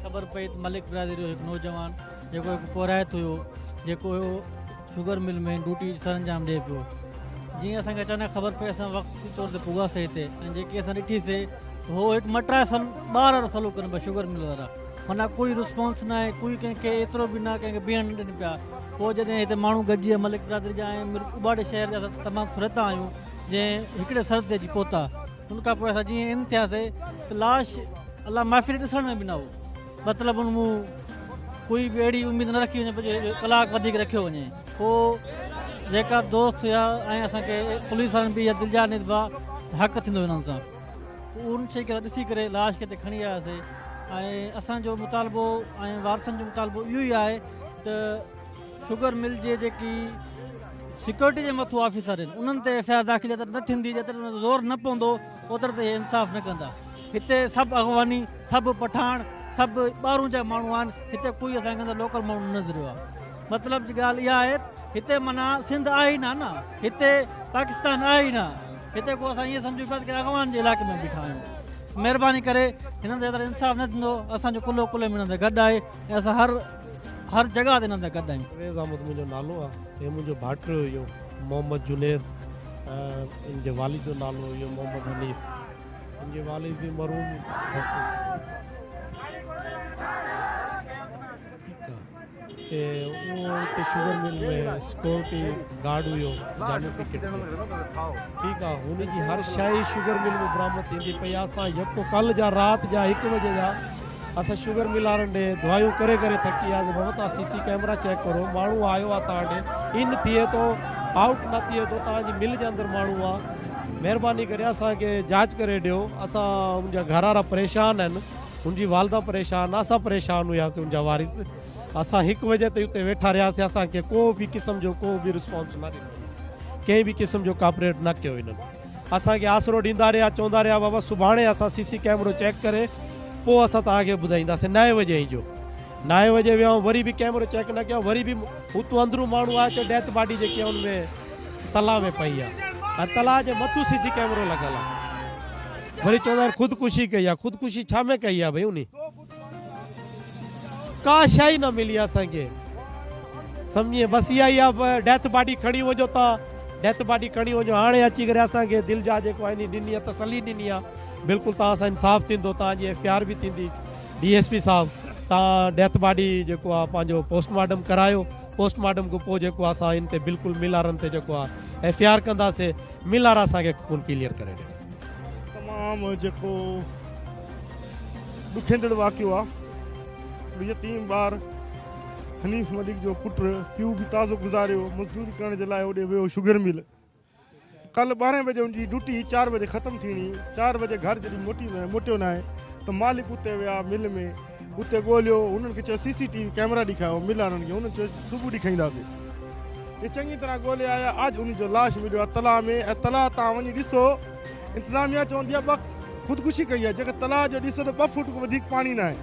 خبر پئي ته ملڪ برادري جو هڪ نوجوان جيڪو هڪ پورهيت هيو جيڪو شگر مل ۾ ڊوٽي سرانجام ڏئي پيو جيئن اسان کي اچانڪ خبر پئي اسان وقتي طور تي پوگا سي تي ۽ جيڪي اسان ڏٺي سي ته هو هڪ مٽرا سل ٻار وارو سلو ڪن پيا شگر مل وارا منا ڪوئي رسپانس نه آهي ڪوئي ڪنهن کي ايترو به نه ڪنهن کي بيهڻ نه ڏن پيا پوء جڏهن هتي ماڻهو گڏجي ملڪ برادري جا ۽ اباڙي شهر جا تمام فرتا آهيون جنهن هڪڙي سر تي اچي پهتا ان کان پوء اسان جيئن ان ٿياسي ته لاش الله محفل ڏسڻ ۾ به نه هو مطلب ان مون ڪوئي به اهڙي اميد نه رکي وڃي جو ڪلاڪ وڌيڪ رکيو وڃي پوء جيڪا دوست هيا ۽ اسان کي پوليس وارن به دلجا نسبا حق ٿيندو انهن سان ان شي کي ڏسي ڪري لاش کي کڻي آياسي ۽ اسان جو مطالبو ۽ وارثن جو مطالبو اهو ئي آهي ته شگر مل جي جيڪي سيڪيورٽي جي مٿو آفيسر آهن انهن تي ايف آء آر داخل جيتر نه ٿيندي جيتر انهن تي زور نه پوندو اوتر تي انصاف نه ڪندا هتي سڀ اغواني سڀ پٺاڻ سڀ ٻاهرون جا ماڻهو آهن هتي کوئي اسان کي لوڪل ماڻهو نه نظر آيو مطلب جي ڳالهه اها آهي هتي منا سنڌ آهي نه نه هتي پاڪستان آهي نه هتي کو اسان ائين سمجهون پيا ته اغوان جي علاقي ۾ بيٺا آهيون مهرباني ڪري هنن تي انصاف نه ٿيندو اسان جو ڪلو ڪلو ۾ هنن سان گڏ آهي ۽ اسان هر هر جڳهه تي نندا گڏ آهيون. فيض احمد منهنجو نالو آ. هي منهنجو ڀائٽيو هيو محمد جنيد ۽ ان جي والد جو نالو هيو محمد حنيف. هن جي والد به مرحوم هو اتي شگر مل ۾ سڪيورٽي گارڊ هيو جامي پيڪٽ ۾ ٺيڪ آ هن جي هر شئي شگر مل مان برآمد ٿيندي پئي آ اسان يڪو ڪل جا رات جا هڪ بجي جا اسان شگر ملارن ڏي دعايون ڪري ڪري ٿڪي وياسين محمد تان سي سي ڪيمرا چيڪ ڪرو ماڻهو آيو آ تان ڏي ان ٿئي ٿو آئوٽ نه ٿئي ٿو تان جي مل جي اندر ماڻهو آ مهرباني ڪري اسان کي جاچ ڪري ڏيو اسان ان جا گهرارا پريشان آهن ان جي والده پريشان اسان پريشان هياسين ان جا وارث اسان هڪ وجه تي اتي ويٺا رهياسين اسان کي ڪو به قسم جو ڪو به رسپانس نه ڏنو ڪنهن به قسم جو ڪاپريٽ نه ڪيو انهن اسان کي آسرو ڏيندا رهيا چوندا رهيا بابا سڀاڻي اسان سي سي ڪيمرو چيڪ ڪري پوء اسان توهان کي ٻڌائينداسين نائين وڄي اهين جو نائين وڄي ويا آهيون وري به ڪيمرو چيڪ نه ڪيو وري به اتو اندرون ماڻهو آيو چيو ڊيٿ باڊي جيڪي آهي ان ۾ تلا ۾ پئي آهي ۽ تلا جي مٿو سي سي ڪيمرو لڳل آهي وري چوندا آهن خودڪشي ڪئي آهي خودڪشي ڇا ۾ ڪئي آهي ڀئي انهي ڪا شئي نه ملي اسان کي سمجهي بس اها ئي آ ڊيٿ باڊي کڻي وڃو تا ڊيٿ باڊي کڻي وڃو هاڻي اچي ڪري اسان کي دل جا جيڪو آهي ڏني آ تسلي ڏني آ بلڪل تان سان انصاف ٿيندو تان جي ايف آر به ٿيندي ڊي ايس پي صاحب تان ڊيٿ باڊي جيڪو آ پنهنجو پوسٽ مارٽم ڪرايو پوسٽ مارٽم کان پوء جيڪو آ سان ان تي بلڪل مل آرن تي جيڪو آ ايف آر ڪندا سي مل آرا سان کي کون ڪليئر ڪري ڏي تمام جيڪو ڏکيندڙ واقعو آ ته يتيم ٻار حنيف ملڪ جو پٽ پيو به تازو گذاريو مزدوري ڪرڻ جي لاء اوڏي ويو شگر مل ڪل ٻارهن بجي ان جي ڊوٽي چار بجي ختم ٿيڻي چار بجي گهر جڏهن موٽي نه موٽيو نه آهي ته مالڪ اتي ويا مل ۾ اتي ڳوليو انهن کي چيو C C T V camera ڏيکايو مل وارن کي انهن چيو صبح ڏيکائينداسي هي چڱي طرح ڳولي آيا اڄ ان جو لاش مليو آ تلاء ۾ ۽ تلاء تان وڃي ڏسو انتظاميا چوندي آهي ٻه خودڪشي ڪئي آهي جيڪا تلاء جو ڏسو ته ٻه فوٽ کان وڌيڪ پاڻي ناهي.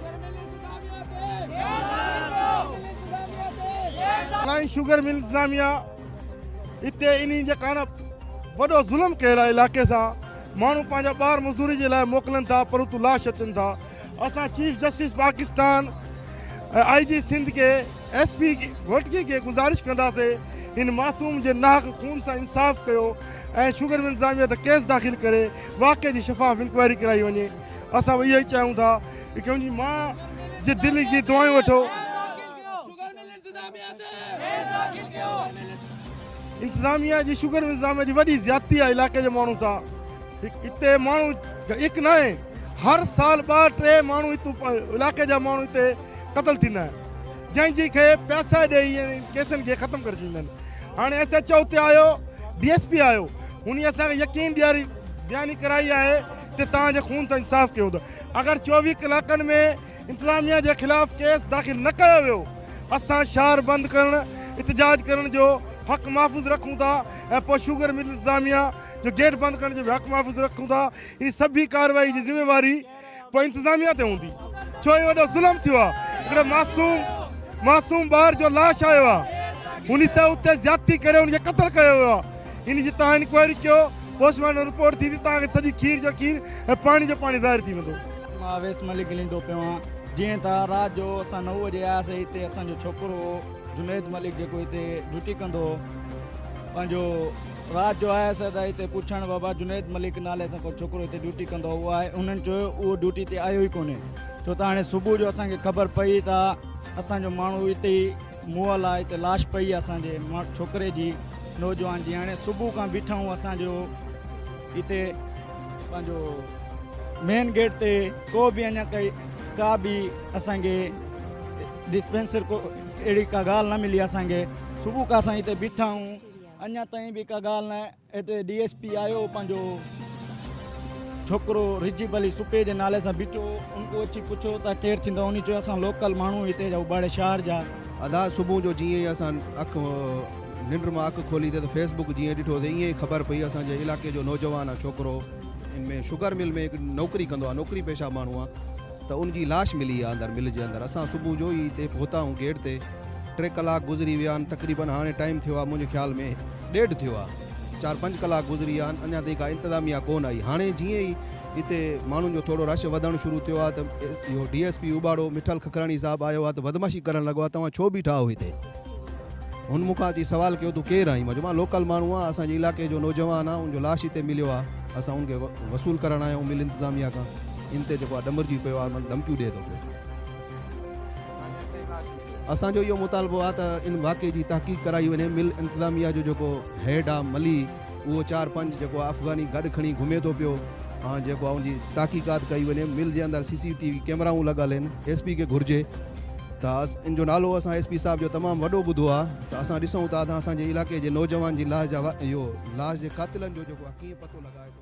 فلائنگ شوگر مل انتظاميا اتي انهي جي ڪارڻ وڏو ظلم ڪيل آهي علائقي سان ماڻهو پنهنجا ٻار مزدوري جي لاء موڪلن ٿا پر اتو لاش اچن ٿا. اسان chief justice Pakistan ۽ I G Sindh کي ايس پي گهوٽڪي کي گذارش ڪنداسين هن معصوم جي ناحق خون سان انصاف ڪيو ۽ شگر مل انتظاميه تي ڪيس داخل ڪري واقعي جي شفاف انڪوائري ڪرائي وڃي اسان اهو ئي چاهيون ٿا ته ڪنهن جي مان جي دل جي دعائون وٺو انتظاميا جي شگر انتظاميا جي وڏي زيادتي آهي علائقي جي ماڻهن سان هتي ماڻهو هڪ نه آهي هر سال ٻه ٽي ماڻهو علائقي جا ماڻهو هتي قتل ٿيندا آهن جنهن جي کي پيسا ڏيئي ڪيسن کي ختم ڪري ڇڏيندا آهن هاڻي ايس ايچ او هتي آيو ڊي ايس پي آيو هن اسان کي يقين ڏياري ڏياني ڪرائي آهي ته تان جي خون سان انصاف ڪيو اٿو اگر چوويهه ڪلاڪن ۾ انتظاميا جي خلاف ڪيس داخل نه ڪيو ويو اسان شھر بند ڪرڻ احتجاج ڪرڻ جو حق محفوظ رکون ٿا ۽ پوء شوگر مل انتظاميا جو گيٽ بند ڪرڻ جو به حق محفوظ رکون ٿا ھي سڀي ڪارروائي جي ذميواري پوء انتظاميا تي ھوندي ڇو ھي وڏو ظلم ٿيو آھي ھڪڙي معصوم معصوم ٻار جو لاش آيو آھي ان تي اتي زيادتي ڪري ان کي قتل ڪيو ويو آھي ان جي تھان انڪوائري ڪيو پوسٽ مارٽم رپورٽ ٿيندي تھان کي سڄي کير جو کير ۽ پاڻي جو پاڻي ظاھر ٿي ويندو مان اويس ملڪ ڳليندو پيو آهيان جيئن ته رات جو اسان نو بجي آياسي هتي اسان جو ڇوڪرو هو جنيد ملڪ جيڪو هتي ڊيوٽي ڪندو هو پنهنجو رات جو آيس ته هتي پڇڻ بابا جنيد ملڪ نالي سان ڪو ڇوڪرو هتي ڊيوٽي ڪندو هو آهي انهن چيو اهو ڊيوٽي تي آيو ئي ڪونهي ڇو ته هاڻي صبح جو اسان کي خبر پئي ته اسان جو ماڻهو هتي ئي موئل آهي هتي لاش پئي آهي اسان جي ڇوڪري جي نوجوان جي هاڻي صبح کان بيٺا آهيون اسان جو هتي پنهنجو مين گيٽ تي ڪو به اڃا ڪئي ڪا به اسان کي ڊسپينسر ڪو اهڙي ڪا ڳالهه نه ملي اسان کي صبح کان اسان هتي بيٺا آهيون اڃا تائين به ڪا ڳالهه نه هتي ڊي ايس پي آيو پنهنجو ڇوڪرو رجيب علي سپي جي نالي سان بيٺو ان کان اچي پڇيو ته ڪير ٿيندو ان چيو اسان لوڪل ماڻهو هتي جا اڀاڙي شهر جا ادا صبح جو جيئن اسان اک ننڊ مان اک کولي ته فيس بڪ جيئن ڏٺو ته ايئن ئي خبر پئي اسان جي علائقي جو نوجوان آ ڇوڪرو ان ۾ شگر مل ۾ نوڪري ڪندو آ نوڪري پيشه ماڻهو آ ته ان جي لاش ملي آ اندر مل جي اندر اسان صبح جو ئي اتي پهتا آهيون گيٽ تي ٽي ڪلاڪ گذري ويا آهن تقريبن هاڻي ٽائيم ٿيو آ منهنجي خيال ۾ ڏيڍ ٿيو آ چار پنج ڪلاڪ گذري ويا آهن اڃا تائين ڪا انتظاميا ڪون آئي هاڻي جيئن ئي اتي ماڻهن جو ٿورو رش وڌڻ شروع ٿيو آ ته اهو D S P Ubauro Mithal Kakrani صاحب آيو آ ته بدمعاشي ڪرڻ لڳو آ توهان ڇو بيٺا آهيو هتي. هن مون کان اچي سوال ڪيو تون ڪير آهين؟ مان چيو مان لوڪل ماڻهو آهيان اسان جي علائقي جو نوجوان آهيان ان جو لاش هتي مليو آهي اسان ان کي وصول ڪرڻ آيا آهيون مل انتظاميا کان ان تي جيڪو آهي ڏمرجي پيو آهي مون ڌمڪيون ڏئي ٿو پيو اسان جو اهو مطالبو آهي ته ان واقعي جي تحقيق ڪرائي وڃي مل انتظاميا جو جيڪو هيڊ آهي ملي اهو چار پنج جيڪو آهي افغاني گڏ کڻي گهمي ٿو پيو ۽ جيڪو آهي ان جي تحقيقات ڪئي وڃي مل جي اندر سي سي ٽي وي ڪيمرائون لڳل آهن ايس پي کي گهرجي داس، ان جو نالو اسان ايس پي صاحب جو تمام وڏو ٻڌو آ ته اسان ڏسون ٿا ته اسان جي علائقي جي نوجوان جي لاش جا اهو لاش جي قاتلن جو جيڪو آ ڪيئن پتو لڳائي ٿو.